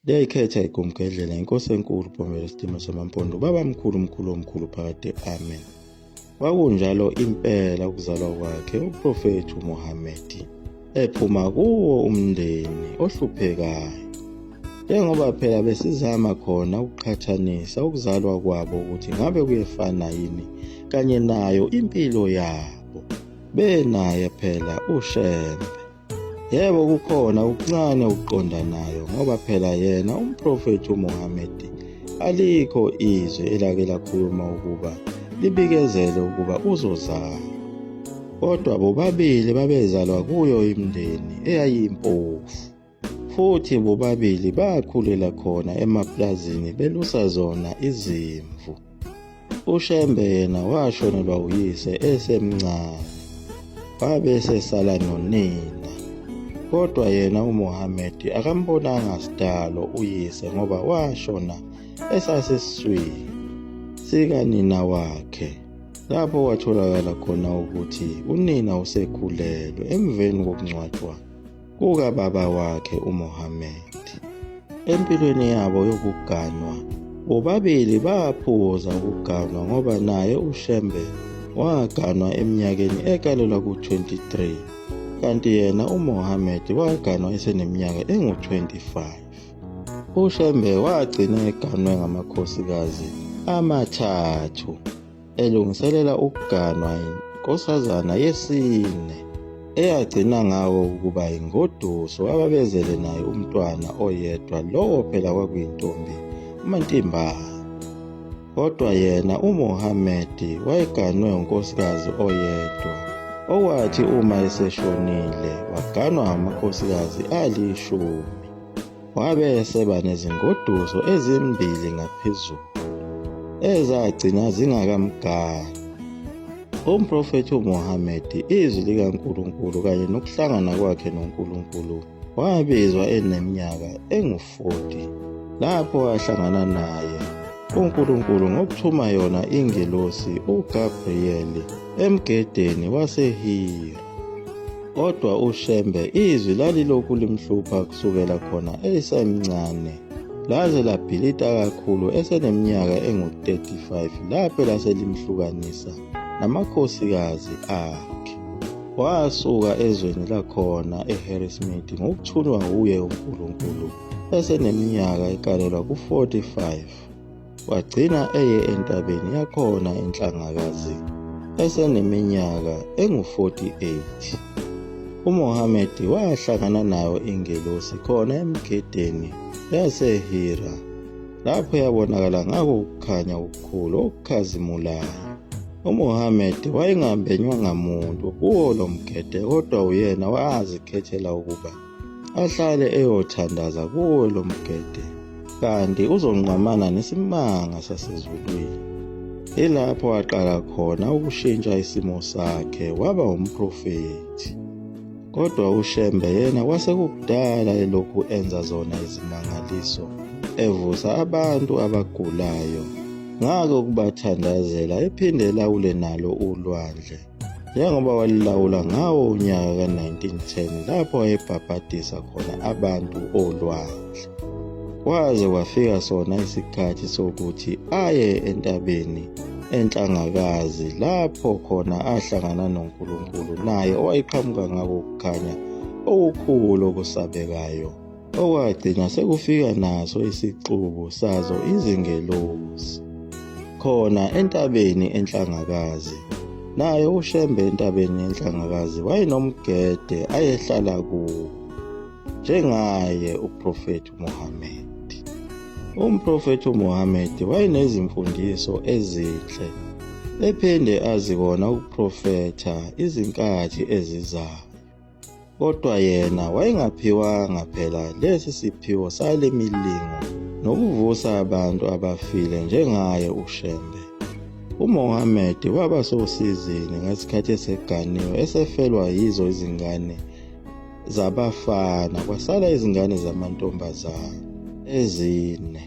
Liyayikhetha igumgedlela inkosi enkulu Bhomelo Stima Somampondo ubaba mkhulu mkhulu omkhulu phakade amen kwakunjalo impela ukuzalwa kwakhe uprofethi uMohammed ephuma kuwo umndeni ohluphekayo njengoba phela besizama khona ukuqhathanisa ukuzalwa kwabo ukuthi ngabe kuyefana yini kanye nayo impilo yabo benaye phela ushembe Yebo kukhona ukuncane ukuqonda nayo ngoba phela yena umprofethi uMuhammad alikho izwi elake lakhuluma ukuba libikezele ukuba uzozala. Kodwa bobabili babezalwa kuyo imindeni eyayimpofu futhi bobabili bakhulela khona emaplazini belusa zona izimvu. UShembe yena washonelwa uyise esemncane wabe esesala nonina. Kodwa yena uMohammed akambonanga sidalo uyise ngoba washona esasesiswini sikanina wakhe lapho kwatholakala khona ukuthi unina usekhulelwe emveni kokungcwatshwa kukababa wakhe uMohammed. Empilweni yabo yokuganwa, bobabili baphuza ukuganwa ngoba naye uShembe waganwa eminyakeni ekalelwa ku-23 kanti yena uMohammed waganwa eseneminyaka engu-25. UShembe wagcina eganwe ngamakhosikazi amathathu. elungiselela ukuganwa yinkosazana yesine eyagcina ngawo ukuba yingoduso ababezele naye umntwana oyedwa lowo phela kwakuyintombi umantimbana kodwa yena uMohammed wayeganwe unkosikazi oyedwa owathi uma eseshonile waganwa amakhosikazi alishumi Wabe eseba nezingoduso ezimbili ngaphezulu ezagcina zingakamgani. Umprofethi uMuhammad, izwi likaNkulunkulu kanye nokuhlangana kwakhe noNkulunkulu, wabizwa eneminyaka engu-40 lapho wahlangana naye uNkulunkulu ngokuthuma yona ingelosi uGabriyeli emgedeni waseHira. Kodwa uShembe izwi lalilokhu limhlupha kusukela khona esemncane laze labhilita kakhulu eseneminyaka engu-35 lapho laselimhlukanisa namakhosikazi akhe. Wasuka ezweni lakhona eHarrismith ngokuthunwa wuye uNkulunkulu eseneminyaka ekalelwa ku-45. wagcina eye entabeni yakhona enhlangakazi eseneminyaka engu-48 uMohammed wahlangana nayo ingelosi khona emgedeni yaseHira lapho yabonakala ngako ukukhanya okukhulu okukhazimulayo uMohammed wayengambenywa ngamuntu kuwo lo mgede kodwa uyena wazikhethela ukuba ahlale eyothandaza kuwo lo mgede kanti uzonqamana nesimanga sasezulwini ilapho aqala khona ukushintsha isimo sakhe waba umprofethi kodwa ushembe yena kwasekukudala elokhu enza zona izimangaliso evusa abantu abagulayo ngake ukubathandazela ephinde elawule nalo ulwandle njengoba walilawula ngawo unyaka ka-1910 lapho wayebhabhadisa khona abantu olwandle kwaze kwafika sona isikhathi sokuthi aye entabeni enhlangakazi lapho khona ahlangana noNkulunkulu naye owayeqhamuka ngako kukhanya okukhulu okusabekayo okwagcina sekufika naso isixuku sazo izingelosi khona entabeni enhlangakazi naye ushembe entabeni yenhlangakazi wayenomgede ayehlala kuwo njengaye uprofethi uMuhammad umprofethi uMuhammad wayenezimfundiso ezinhle ephinde azikona ukuprofetha izinkathi ezizayo Kodwa yena wayengaphiwanga phela lesi siphiwo sale milingo nokuvusa abantu abafile njengaye uShembe. UMohammed waba sosizini ngesikhathi eseganiwe esefelwa yizo izingane zabafana kwasala izingane zamantombazane ezine.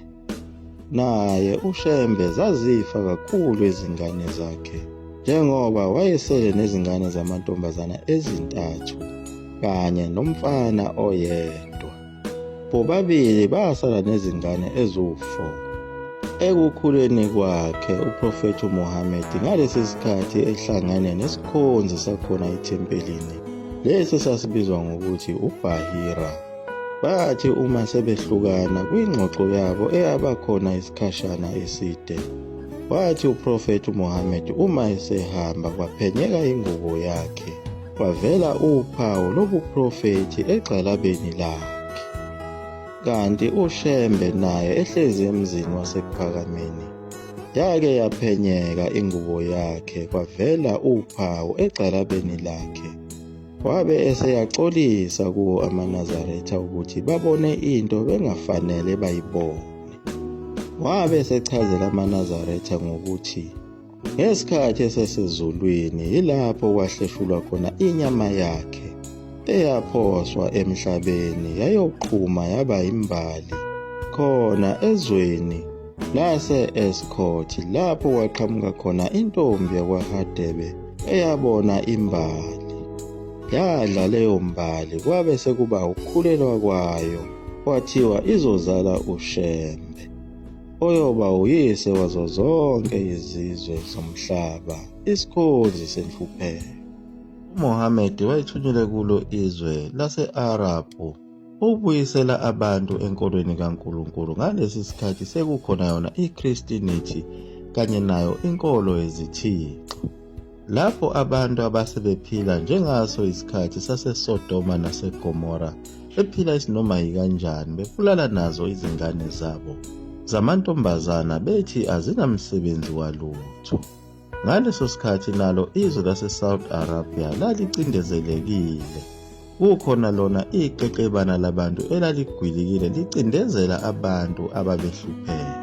Naye uShembe zazifa kakhulu izingane zakhe njengoba wayesele nezingane zamantombazana ezintathu kanye nomfana oyedwa. Bobabili basala nezingane eziwu-4. Ekukhuleni kwakhe uProfethi uMuhammad ngalesi sikhathi ehlangene nesikhonzi sakhona ethempelini lesi esasibizwa ngokuthi uBahira. Bathi uma sebehlukana kwingxoxo yabo eyaba khona isikhashana eside, wathi uProfethi uMuhammad uma esehamba kwaphenyeka ingubo yakhe, kwavela uphawu lobuprofethi egxalabeni lakhe. Kanti uShembe naye ehlezi emzini waseKuphakameni yake yaphenyeka ingubo yakhe kwavela uphawu egxalabeni lakhe. wabe eseyaxolisa kuwo amanazaretha ukuthi babone into bengafanele bayibone wabe esechazela amanazaretha ngokuthi ngesikhathi esesezulwini yilapho kwahleshulwa khona inyama yakhe eyaphoswa emhlabeni yayoqhuma yaba imbali khona ezweni lase-Escort lapho kwaqhamuka khona intombi yakwaHadebe eyabona imbali. Yadla leyo mbali kwabe sekuba ukukhulelwa kwayo kwathiwa izozala uShembe oyoba uyise wazo zonke izizwe zomhlaba isikhonzi senhlupheko. UMohammed wayethunyelwe kulo izwe lase-Arabhu Ukubuyisela abantu enkolweni kaNkulunkulu ngalesi sikhathi sekukhona yona iChristinity kanye nayo inkolo yezithixo. Lapho abantu abase bephila njengaso isikhathi saseSodoma naseGomora bephila isinoma yikanjani bebulala nazo izingane zabo zamantombazana bethi azinamsebenzi walutho. Ngaleso sikhathi nalo izwe laseSaudi Arabia lalicindezelekile. Kukhona lona iqeqebana labantu elaligwilikile licindezela abantu ababehlupheka.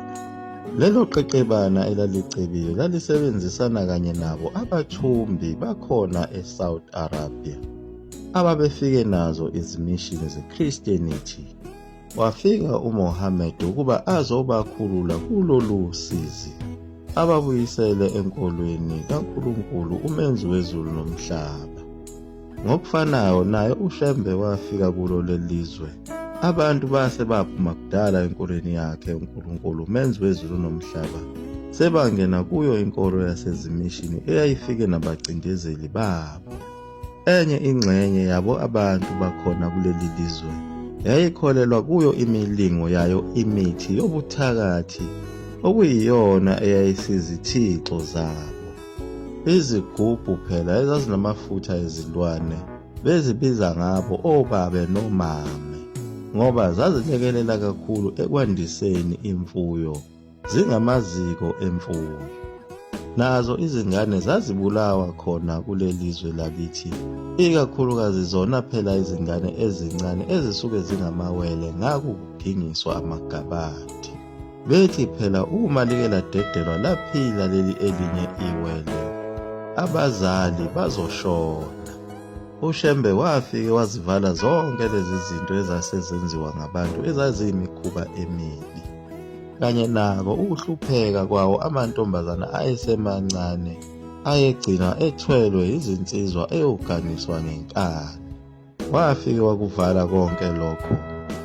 Lelo qeqebana elalicebile lalisebenzisana kanye nabo abathumbi bakhona eSaudi Arabia ababefike nazo izimishini zeChristianity. Wafika uMohammed ukuba azobakhulula kulolu sizi, ababuyisele enkolweni kaNkulunkulu uMenzi wezulu nomhlaba. Ngokufanayo naye uShembe wafika kulo lelizwe. Abantu base baphuma kudala enkolweni yakhe uNkulunkulu uMenzi wezulu nomhlaba. Sebangena kuyo inkolo yasezimishini eyayifike nabacindezeli babo. Enye ingxenye yabo abantu bakhona kuleli lizwe yayikholelwa kuyo imilingo yayo imithi yobuthakathi okuyiyona eyayisizithixo zabo. Izigubhu phela ezazinamafutha ezilwane bezibiza ngabo obabe nomame ngoba zazilekelela kakhulu ekwandiseni imfuyo. zingamaziko emfuyo. Nazo izingane zazibulawa khona kuleli zwe lakithi, ikakhulukazi zona phela izingane ezincane ezisuke zingamawele ngakudingiswa amagabadi. Bethi phela uma like ladedelwa laphila leli elinye iwele, abazali bazoshona. UShembe wafike wazivala zonke lezi zinto ezase zenziwa ngabantu ezaziyimikhuba emibi. kanye nako ukuhlupheka kwawo amantombazana ayesemancane ayegcina ethwelwe izinsizwa eyoganiswa ngenkani wafike wakuvala konke lokho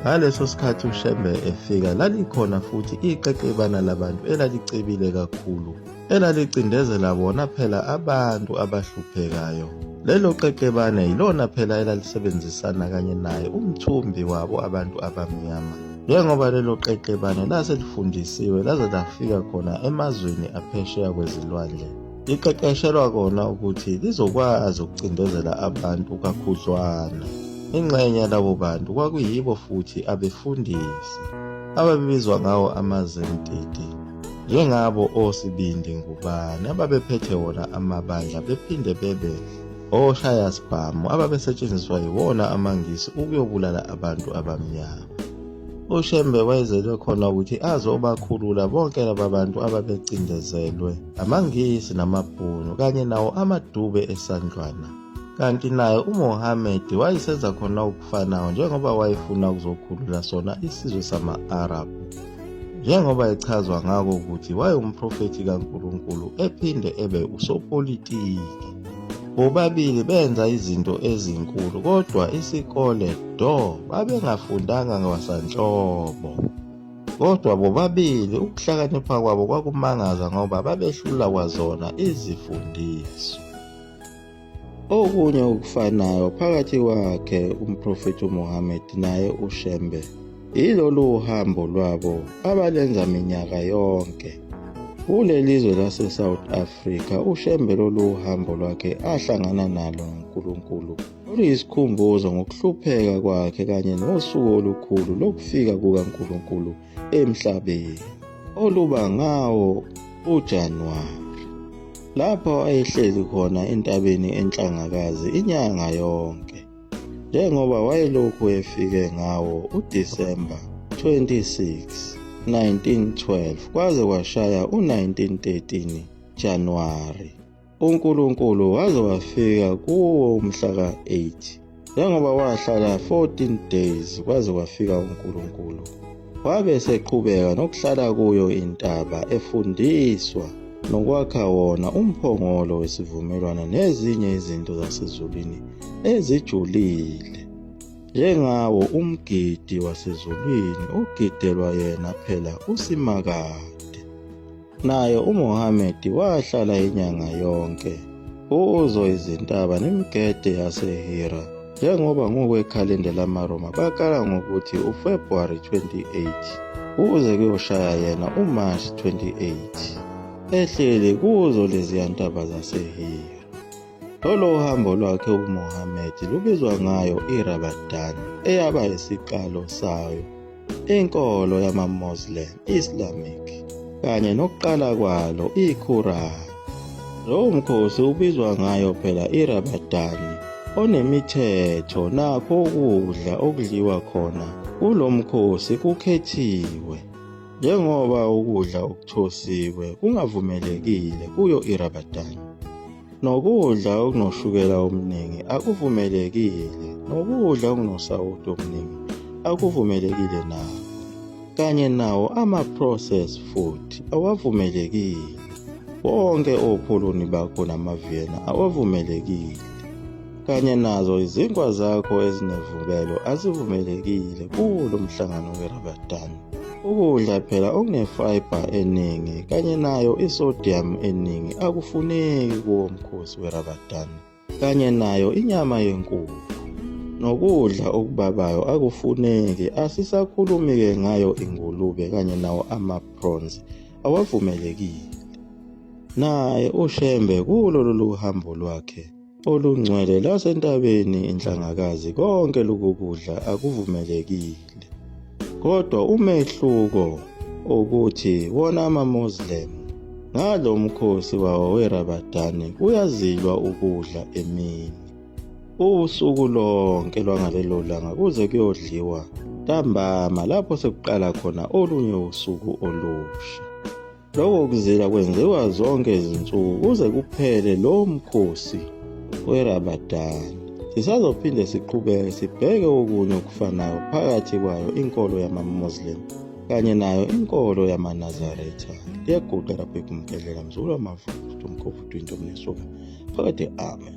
ngaleso sikhathi ushembe efika lalikhona futhi iqeqebana labantu elalicebile kakhulu elalicindezela bona phela abantu abahluphekayo. Lelo qeqebane yilona phela elalisebenzisana kanye naye umthumbi wabo abantu abamnyama. Njengoba lelo qeqebane lase lifundisiwe laze lafika khona emazweni aphesheya kwezilwandle. Liqeqeshelwa kona ukuthi lizokwazi ukucindezela abantu kakhudlwana. Ingxenye yalabo bantu kwakuyibo futhi abefundisi ababibizwa ngawo amazentiti. Njengabo osibindi ngubani ababephethe wona amabandla bephinde bebe oshayasibhamu ababesetshenziswa yiwona amaNgisi ukuyobulala abantu abamnyama. UShembe wayezelwe khona ukuthi azobakhulula bonke laba bantu ababecindezelwe amaNgisi namaBhunu kanye nawo amadube esandlwana. kanti naye uMohammed wayesenza khona okufanayo njengoba wayefuna ukuzokhulula sona isizwe sama-Arab njengoba echazwa ngako ukuthi wayewumprofethi kaNkulunkulu ephinde ebe usopolitiki bobabili benza izinto ezinkulu kodwa isikole do babengafundanga ngwasanhlobo kodwa bobabili ukuhlakanipha kwabo kwakumangaza ngoba babehlula kwazona izifundiso Okunye okufanayo phakathi kwakhe umprofethi uMuhammad naye uShembe yilolu uhambo lwabo abalenza minyaka yonke. Kulelizwe lase South Africa uShembe lolu uhambo lwakhe ahlangana nalo uNkulunkulu oluyisikhumbuzo ngokuhlupheka kwakhe kanye nosuku olukhulu lokufika kukaNkulunkulu emhlabeni oluba ngawo uJanuwari lapho ayehleli khona entabeni enhlangakazi inyanga yonke njengoba wayelokhu efike ngawo uDisemba 26 1912 kwaze kwashaya u-1913 Januwari uNkulunkulu waze wafika kuwo umhla ka-8 njengoba wahlala 14 days kwaze kwafika uNkulunkulu wabe eseqhubeka nokuhlala kuyo intaba efundiswa nokwakha wona umphongolo wesivumelwano nezinye izinto zasezulwini ezijulile njengawo umgidi wasezulwini ogidelwa yena phela usimakade Naye uMohammed wahlala inyanga yonke uzo izintaba nemigede yaseHira njengoba ngokwekhalenda lamaRoma bakala ngokuthi uFebruary 28 kuze kuyoshaya yena uMarch 28 ehleli kuzo leziya ntaba zaseHira. Lolo uhambo lwakhe uMohammed lubizwa ngayo iRabadan eyaba isiqalo sayo inkolo yamaMoslem, Islamic, kanye nokuqala kwalo iQuran. Lowo mkhosi ubizwa ngayo phela iRamadan onemithetho nakho ukudla okudliwa khona kulo mkhosi kukhethiwe njengoba ukudla okuthosiwe kungavumelekile kuyo iRamadan. Nokudla okunoshukela omningi akuvumelekile, nokudla okunosawoti omningi akuvumelekile nawo, kanye nawo ama-processed food awavumelekile. Bonke opholoni bakho namaviyena awavumelekile, kanye nazo izinkwa zakho ezinevukelo azivumelekile kulo mhlangano weRamadan. Ukudla phela okunefiber eningi kanye nayo isodium eningi akufuneki kuwo mkhosi weRamadan kanye nayo inyama yenkukhu. Nokudla okubabayo akufuneki asisakhulumi-ke ngayo ingulube kanye nawo ama-prawns awavumelekile. Naye uShembe kulo lolu hambo lwakhe olungcwele lwasentabeni inhlangakazi konke lokukudla akuvumelekile kodwa umehluko ukuthi wona amaMuslim ngalo mkhosi wawo weRabadani kuyazilwa ukudla emini usuku lonke lwangalelo langa kuze kuyodliwa ntambama lapho sekuqala khona olunye usuku olusha Lokho kuzila kwenziwa zonke izinsuku kuze kuphele lowo mkhosi werabadani. Sisazophinde siqhubeke sibheke okunye okufanayo phakathi kwayo inkolo yamaMuslim kanye nayo inkolo yamaNazaretha. Liyaguqa lapho ikumgedlela mzulu wamavukudu umkhofudu into omnesuka. Phakade amen.